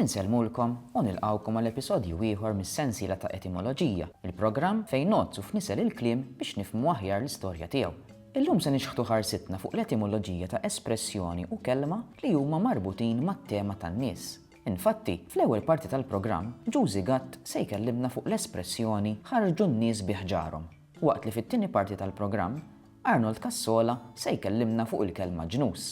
Insellmulkom u nilqgħukom għal episodju ieħor mis-sensiela ta' Etimoloġija, il-programm fejn ngħoddsu f'nisel il-kliem biex nifhmu aħjar l-istorja tiegħu. Illum se nixħtu ħarsitna fuq l-etimoloġija ta' espressjoni u kelma li huma marbutin mat-tema tan-nies. Infatti, fl-ewwel parti tal-programm, Ġużi Gatt se jkellimna fuq l-espressjoni ħarrġu n-nies bi ħġarhom, waqt li fit-tieni parti tal-programm, Arnold Cassola se jkellimna fuq il-kelma ġnus.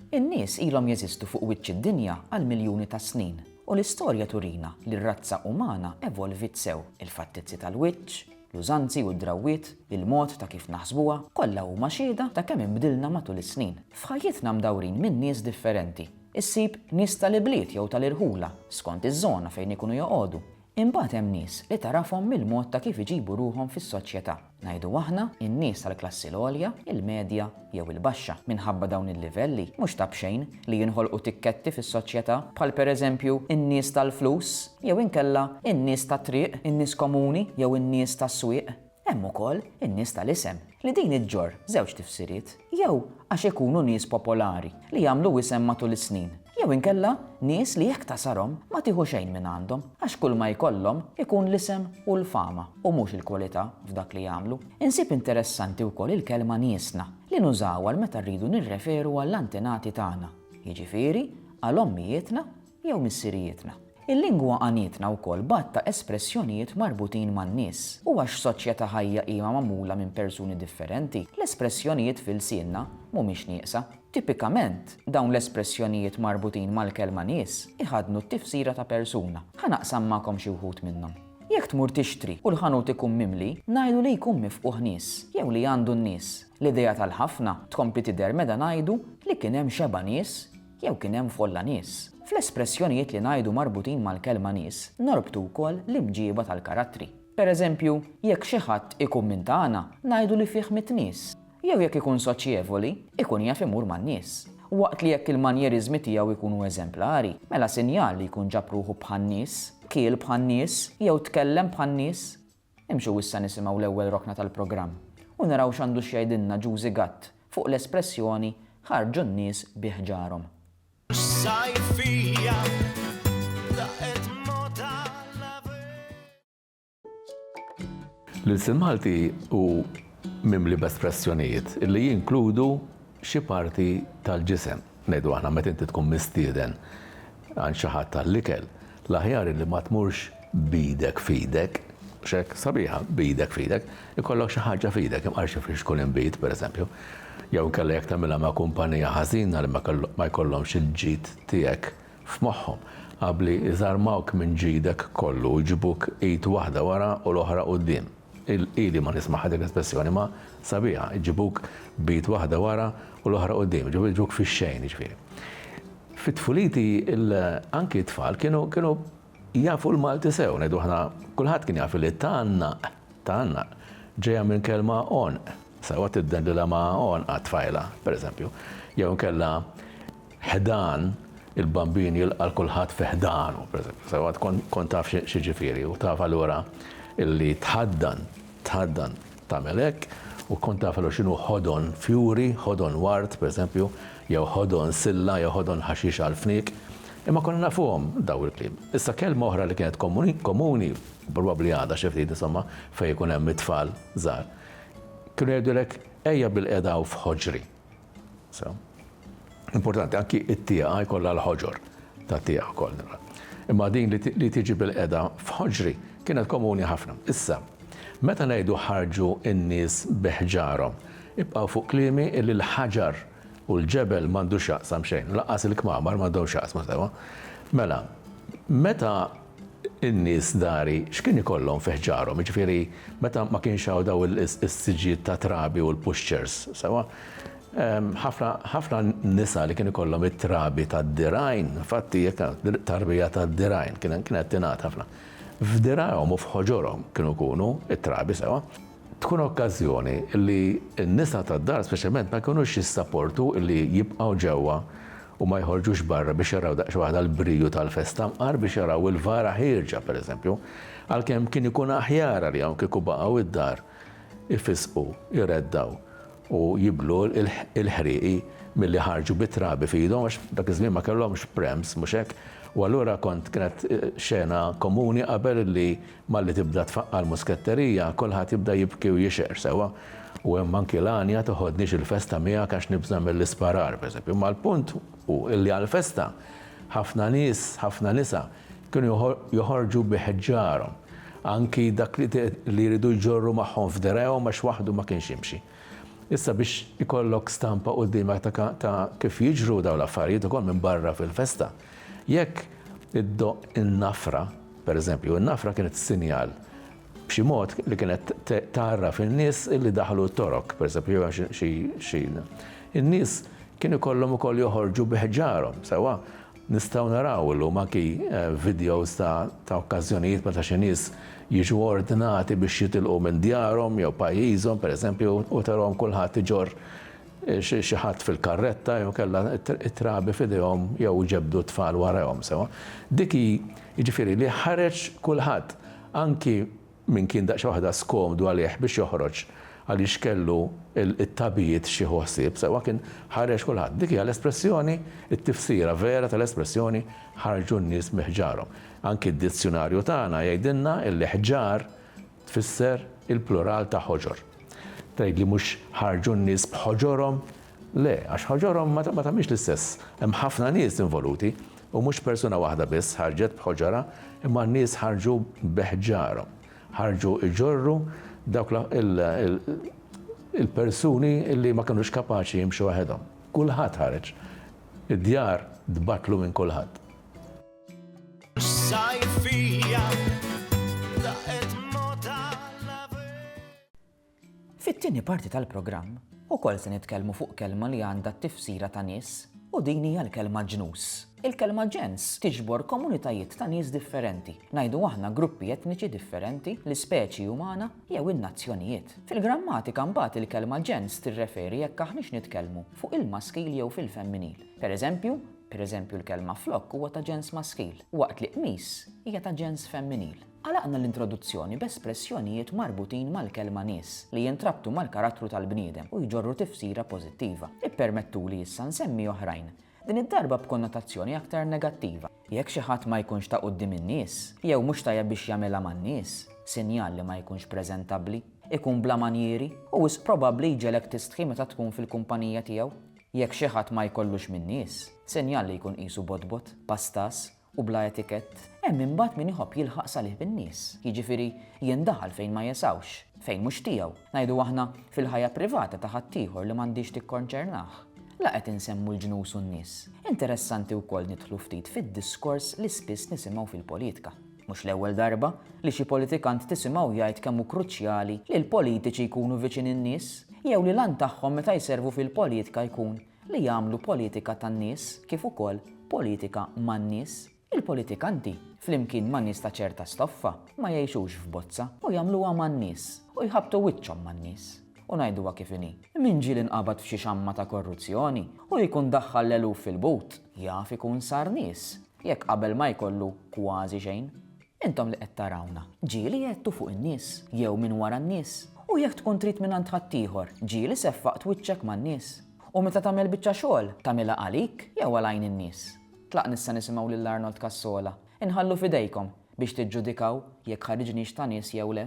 In-nies ilhom jeżistu fuq wiċċ id-dinja għal miljuni ta' snin, u l-istorja turina li r-razza umana evolviet sew. Il-fattizzi tal-wiċċ, l-użanzi u d-drawwiet, il-mod ta' kif naħsbuha, kollha huma xhieda ta' kemm inbdilna matul is-snin. F'ħajjitna mdawrin minn nies differenti. Issib nies tal-ibliet jew tal-irħula, skont iż-żona fejn ikunu joqogħdu, Imbagħad hemm nies li tagħrafhom mill-mod ta' kif iġibu ruħhom fis-soċjetà, ngħidu aħna, in-nies tal-klassi l-għolja, il-medja jew il-baxxa. Minħabba dawn il-livelli, mhux ta' b'xejn li jinħolqu tikketti fis-soċjetà, bħal pereżempju in-nies tal-flus, jew inkella in-nies tat-triq, in-nies komuni jew in-nies tas-swieq. Hemm ukoll in-nies tal-isem, li din iġġorr żewġ tifsiriet, jew għax ikunu nies popolari li jagħmlu wisem matul is-snin, jew inkella nies li jekk tasarhom ma tieħu xejn minn għandhom, għax kulma jkollhom ikun l-isem u l-fama u mhux il-kwalità f'dak li jagħmlu. Insib interessanti wkoll il-kelma niesna, li nużawha għal meta rridu nirreferu għall-antenati tagħna, jiġifieri għal ommijietna jew missirijietna. Il-lingwa għanietna wkoll b'għadd ta' espressjonijiet marbutin man-nies. U għax soċjetà ħajja hija magħmula minn persuni differenti, l-espressjonijiet f'ilsienna mhumiex nieqsa. Tipikament, dawn l-espressjonijiet marbutin mal-kelma nies iħaddnu t-tifsira ta' persuna. Ħa naqsam magħkom xi wħud minnhom. Jekk tmur tixtri u l-ħanut ikun mimli, ngħidu li jkun mifqugħ nies, jew li għandu n-nies. L-idea tal-ħafna tkompli tidher meta ngħidu li kien hemm xebgħa nies jew kien hemm folla nies. Fl-espressjonijiet li ngħidu marbutin mal-kelma nies norbtu wkoll l-imġieba tal-karattri. Per eżempju, jekk xi ħadd ikkummintana, ngħidu li fih mitt nies. Jew jekk ikun soċjevoli, ikun jaf imur man-nies. Waqt li jekk il-manjeriżmi tiegħu jkunu eżemplari, mela sinjal li jkun ġab ruħu bħan-nies, kiel bħan-nies, jew tkellem bħan-nies. Imxu issa nisimgħu l-ewwel rokna tal-programm u naraw x'għandu x'jgħidilna Ġużi Gatt fuq l-espressjoni ħarġu n-nies bi ħġarhom. L-ilsien Malti hu mimli b'espressjonijiet li jinkludu xi parti tal-ġisem. Ngħidu aħna meta inti tkun mistieden għand xi ħadd għall-ikel, l-aħjar illi ma tmurx b'idek f'idek, mhux hekk? Sabiħa, b'idek f'idek. Ikollok xi ħaġa f'idek, imqar xi friġġ tkun inbid, pereżempju. Jew inkella jekk tagħmilha ma' kumpanija ħażina li ma jkollhomx il-ġid tiegħek f'moħħhom, abbli jżarmawk minn ġidek kollu u jġibuk id waħda wara u l-oħra quddiem. Ili ma nismagħha dik l-espressjoni, imma sabiħa, iġibuk b'id waħda wara u l-oħra quddiem, jiġifieri jiġbuk fix-xejn jiġifieri. Fi tfuliti anki t-tfal kienu kienu jafu l-Malti sew, ngħidu aħna kulħadd kien jaf li tgħannaq, tgħannaq, ġejja minn kelma għonq, sewwa tiddendilha ma' għonqha t-tfajla, pereżempju, jew inkella, ħdan il-Bambin jilqa' 'l kulħadd fi ħdanu, pereżempju, sewwa tkun taf x'jiġifieri u taf allura li tħaddan, tħaddan tagħmel hekk u tkun taf allura x'inhu ħodon fjuri, ħodon ward, pereżempju, jew ħodon silla jew ħodon ħaxix għall-fniek. Imma konna nafuhom dawn il-kliem. Issa kelma oħra li kienet komuni, probabbli għadha xi ftit insomma fejn ikun hemm it-tfal żgħar, kienu jgħidulek ejja bilqiegħda hawn f'ħoġri. Importanti anki t-tieqa jkollha l-ħoġor ta' tieqa wkoll. Imma din li tiġi bil-qeda f'ħoġri kienet komuni ħafna. Issa, meta ngħidu ħarġu n-nies bi ħġarhom, ibqgħu fuq kliemi li l-ħaġar u l-ġebel m'għandu x'jaqsam xejn, lanqas il-kmamar m'għandhom x'jaqsmu sewwa. Mela, meta in-nies dari x'kien ikollhom fi ħġarhom, jiġifieri meta ma kienx hawn dawn is-siġġijiet ta' trabi u l-puxċers, sewwa? Ħafna ħafna nisa li kien ikollhom it-trabi tad-dirgħajn, infatti jekk tarbija tad-dirgħajn kien kienet tingħad ħafna. F'dirgħajhom u f'ħoġorhom kienu jkunu t-trabi, sewwa? Tkun okkażjoni li n-nisa tad-dar speċjalment ma jkunux jissaportu li jibqgħu ġewwa u ma jħorġux barra biex jaraw daqsxejn waħda l-briju tal-festa mqar biex jaraw il-vara ħierġa, pereżempju, għalkemm kien ikun aħjar għalihom kieku baqgħu id-dar ifissqu, jreddgħu u jiblu l-ħrieqi milli ħarġu bit-trabi f'idhom għax dak iż-żmien ma kellhomx prems, mhux hekk? U allura kont kienet xena komuni qabel li Malli tibda tfaqqa' l-musketterija, kulħadd jibda jibki u jixher sewwa, u hemm anki l-għanja toħodnix il-festa miegħek għax nibża' mill-isparar, pereżempju. Imma l-punt hu li għall-festa, ħafna nies, ħafna nisa, kienu joħorġu bi ħġarhom, anki dak li jridu jġorru magħhom f'dergħejhom għax waħdu ma kienx jimxi. Issa biex ikollok stampa quddiemek ta' kif jiġru dawn l-affarijiet ukoll minn barra fil-festa, jekk iddoqq in-nafra, Pereżempju, in-nafra kienet sinjal, b'xi mod, li kienet tgħarraf in-nies li daħlu t-Torok, pereżempju, jew hemm xi xi. In-nies kien ikollhom ukoll joħorġu bi ħġarhom, sewwa? Nistgħu naraw illum anki vidjows ta' ta' okkażjonijiet meta xi nies jiġu ordnati biex jitilqu minn djarhom jew pajjiżhom, pereżempju, u tarahom kulħadd iġorr xi ħadd fil-karretta jew kellha t-trabi f'idejhom jew ġebdu t-tfal warajhom sewwa. Dik hi, jiġifieri li ħareġ kulħadd, anki min kien daqsxejn waħda skomdu għalih biex joħroġ għaliex kellu t-tabijiet x'jieħu ħsieb sewwa, kien ħareġ kulħadd. Dik hija l-espressjoni, it-tifsira vera tal-espressjoni ħarġu n-nies bi ħġarhom. Anki d-dizzjunarju tagħna jgħidilna li ħġar Tfisser il-plural ta' ħoġor. Tgħid li mhux ħarġu n-nies b'ħoġorhom? Le, għax ħoġorhom ma tagħmilx l-istess. Hemm ħafna nies involuti u mhux persuna waħda biss ħarġet b'ħoġorha imma n-nies ħarġu b'ħġarhom. Ħarġu jġorru dawk il-persuni li ma kinux kapaċi jimxu waħedhom. Kulħadd ħareġ. Id-djar tbattlu minn kulħadd. Fit-tieni parti tal-programm, ukoll se nitkellmu fuq kelma li għandha t-tifsira ta' nies u din hija l-kelma ġnus. Il-kelma ġens tiġbor komunitajiet ta' nies differenti, ngħidu aħna gruppi etniċi differenti, l-ispeċi umana jew in-nazzjonijiet. Fil-grammatika mbagħad il-kelma ġens tirreferi jekk aħniex nitkellmu fuq il-maskil jew fil-femminil. Pereżempju, Pereżempju l-kelma flokk huwa ta' ġens maskil, waqt li qmis hija ta' ġens femminil. Għalaqna l-introduzzjoni b'espressjonijiet marbutin mal-kelma nies, li jintrabtu mal-karattru tal-bniedem u jġorru tifsira pożittiva. Ippermettuli issa nsemmi oħrajn, din id-darba b'konnotazzjoni aktar negattiva. Jekk xi ħadd ma jkunx ta' quddiem in-nies, jew mhux tajjeb biex jagħmilha man-nies, sinjal li ma jkunx preżentabbli, ikun bla manjieri, u wisq probabbli jġegħlek tistħi meta tkun fil-kumpanija tiegħu. Jekk xi ħadd ma jkollux min-nies, sinjal li jkun qisu botbot, pastas, u bla etikett, hemm imbagħad min iħobb jilħaq salih bin-nies, jiġifieri jindaħal fejn ma jesgħux, fejn mhux tiegħu, ngħidu aħna fil-ħajja privata ta' ħaddieħor li m'għandhiex tikkonċernah. La qed insemmu l-ġnus u n-nies. Interessanti wkoll nidħlu ftit fid-diskors li spiss nisimgħu fil-politka. Mhux l-ewwel darba li xi politikant tisimgħu jgħid kemm hu kruċjali li l-politiċi jkunu viċin in-nies jew li l-għan tagħhom meta jservu fil-politika jkun li jagħmlu politika tan-nies kif ukoll politika man-nies. Il-politikanti, flimkien ma' nies ta' ċerta stoffa, ma jgħixux f'bozza u jagħmluha man-nies u jħabbtu wiċċhom man-nies. U ngħiduha kif inhi, min ġieli nqabad f'xi xamma ta' korruzzjoni u jkun daħħal l-eluf fil-but, jaf ikun sar nies. jekk qabel ma jkollu kważi xejn. Intom li qed tarawna, ġieli għedtu fuq in-nies, jew minn wara n-nies, u jekk tkun trid mingħand ħaddieħor, ġieli seffaqt wiċċek man-nies. U meta tagħmel biċċa xogħol, tagħmilha għalik jew għal għajn in-nies? Tlaqn issa nisimgħu lil Arnold Cassola. Inħallu f'idejkom biex tiġġudikaw jekk ħariġniex ta' nies jew le.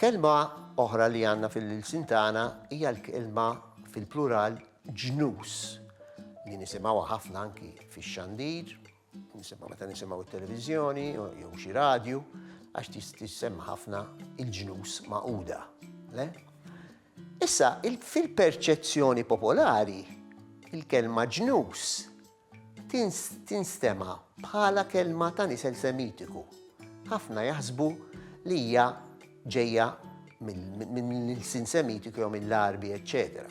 Kelma oħra li għanna fil-lilsin tagħna hija l-kelma fil-plural ġnus li nisimgħu ħafna anki fix-xandir, nisimgħu meta nisimgħu t-televiżjoni jew xi radju għax tissemma ħafna il-ġnus maquda. Le? Issa, fil-perċezzjoni popolari, il-kelma ġnus tinstema' bħala kelma ta' nisel Semitiku. Ħafna jaħsbu li hija ġejja mill-ilsien Semitiku jew mill-Għarbi, eċċetera.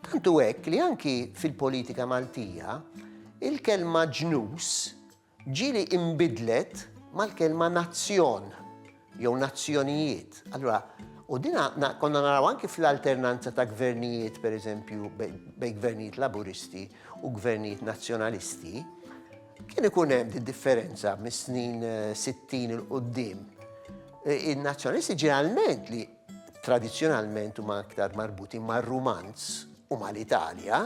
Tant hu hekk li anki fil-politika Maltija, il-kelma ġnus Ġieli inbidlet mal-kelma nazzjon jew nazzjonijiet. Allura, u dina konna naraw anki fl-alternanza ta' gvernijiet, per eżempju, bej gvernijiet laburisti u gvernijiet nazzjonalisti, kien ikun hemm di differenza mis-snin 60 eh, il-qoddim. Eh, In-nazzjonalisti ġeneralment li tradizjonalment huma aktar marbuti mar-Rumanz u mal-Italja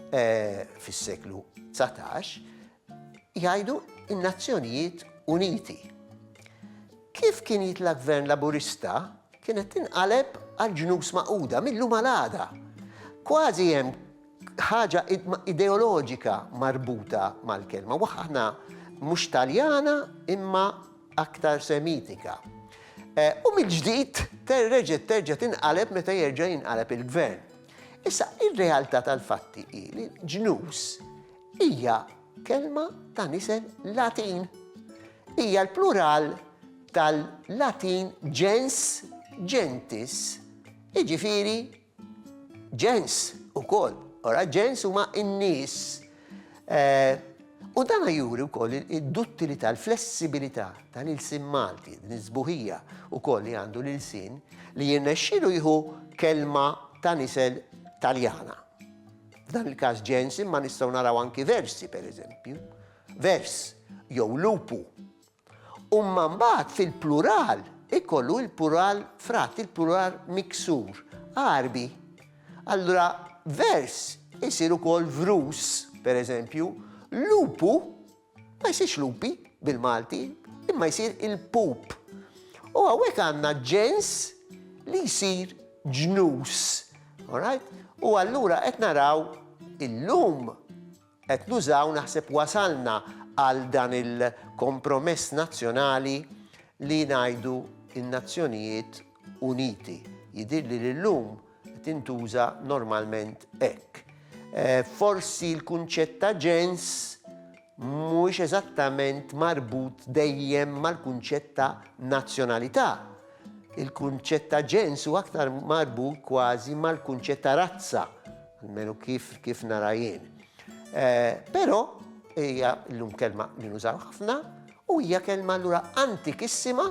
eh, fis-seklu 19, jgħidu n-Nazzjonijiet Uniti. Kif kien jitla' Gvern Laburista, kienet tinqaleb għall-Ġnus Magħquda mill-lum għal għada. Kważi hemm ħaġa ideoloġika marbuta mal-kelma, waħna mhux Taljana imma aktar Semitika. Eh, u mill-ġdid terreġet terġa' tinqaleb meta jerġa' jinqaleb il-gvern. Issa, ir-realtà tal-fatti hi li ġnus hija kelma ta' nisel Latin. Hija l-plural tal-Latin gens gentis, jiġifieri ġens ukoll. Ora ġens huma n-nies. Eh, u dan juri wkoll id-duttilità, l-flessibilità tal-ilsien Malti, din iż-żbuħija wkoll li għandu l-ilsien li jirnexxilu jieħu kelma ta' nisel Taljana. F'dan il-każ ġens imma nistgħu naraw anki versi pereżempju, vers jew lupu. U mma mbagħad fil-plural ikollu il-plural frat, il-plural miksur, arbi. Allura vers isir ukoll vrus pereżempju, lupu Ma jsirx lupi bil-Malti, imma jsir il-pup. U hawnhekk għandna ġens li jsir ġnus. Alright? U allura qed naraw illum qed nużaw naħseb wasalna għal dan il-kompromess nazzjonali li ngħidu n-nazzjonijiet Uniti. Jidhirli li llum tintuża normalment hekk. Forsi l-kunċett ta' ġens mhuwiex eżattament marbut dejjem mal-kunċett ta' nazzjonalità. Il-kunċett ta' ġens hu aktar marbut kważi mal-kunċett ta' razza, almenu kif kif nara jien. Però hija llum kelma li nużaw ħafna u hija kelma allura antikissima.